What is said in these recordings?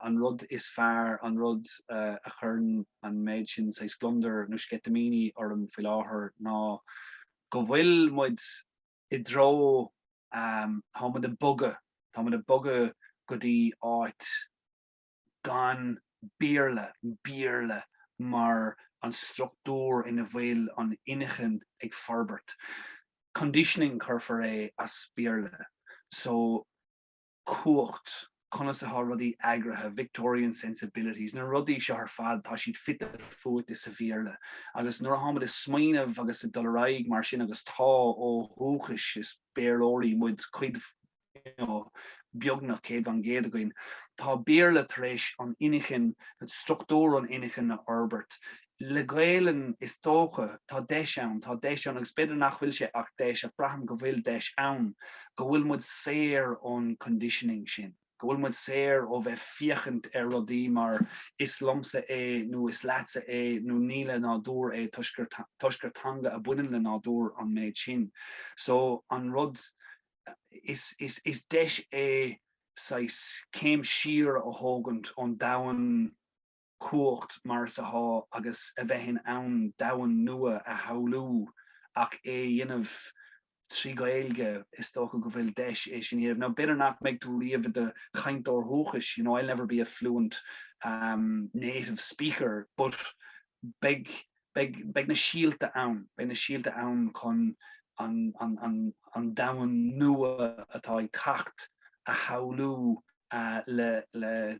an rud is fearr, an rud a chuireann an méid is mó saghas gliondair nó sceitimíní orm faoi láthair ná go bhfuil muid i dtreo, tá muid ag bogadh, tá muid ag bogadh go dtí áit gan Béarla, Béarla mar an struchtúr ina bhfuil an inchinn ag forbairt. Conditioning a thabharfá air as Béarla. So. cumhacht, conas atá rudaí eagraithe, Victorian sensibilities, na rudaí seo ar fad, tá siad fite fuaite sa Bhéarla agus nuair a atáimid ag smaoineamh agus ag dul ar aghaidh mar sin agus tá, ó dhúchas, is Béarlóirí muid, cuid, you know, beagnach céad fán gcéad againn, tá Béarla tar éis an inchinn, struchtúr na hinchinne a fhorbairt le Gaelainn is dócha, tá deis ann, tá deis ann agus b'fhéidir nach bhfuil sé ach deis ach braithim go bhfuil deis ann, go bhfuil muid saor ón conditioning sin, go bhfuil muid saor ó bheith féachaint ar rudaí mar is liomsa é nó is leatsa é nó ní le nádúr é toisc gur teanga a bhaineann le nádúr an méid sin. So an rud, is, is, is deis é saghas céim siar a thógaint ón domhan, cumhacht mar atá sé agus a bheith in ann domhan nua a shamhlú ach é a dhéanamh trí Ghaeilge, is dócha go bhfuil deis é sin a dhéanamh. Now b'fhéidir nach mbeidh tú riamh i do chainteoir dhúchais, you know, I'll never be a fluent um native speaker but beidh, beidh, beidh na síolta ann, beidh na síolta ann chun an, an, an, an domhan nua atá ag teacht a shamhlú. le, le,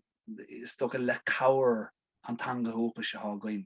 is dócha, le cabhair an teanga dhúchais atá againn.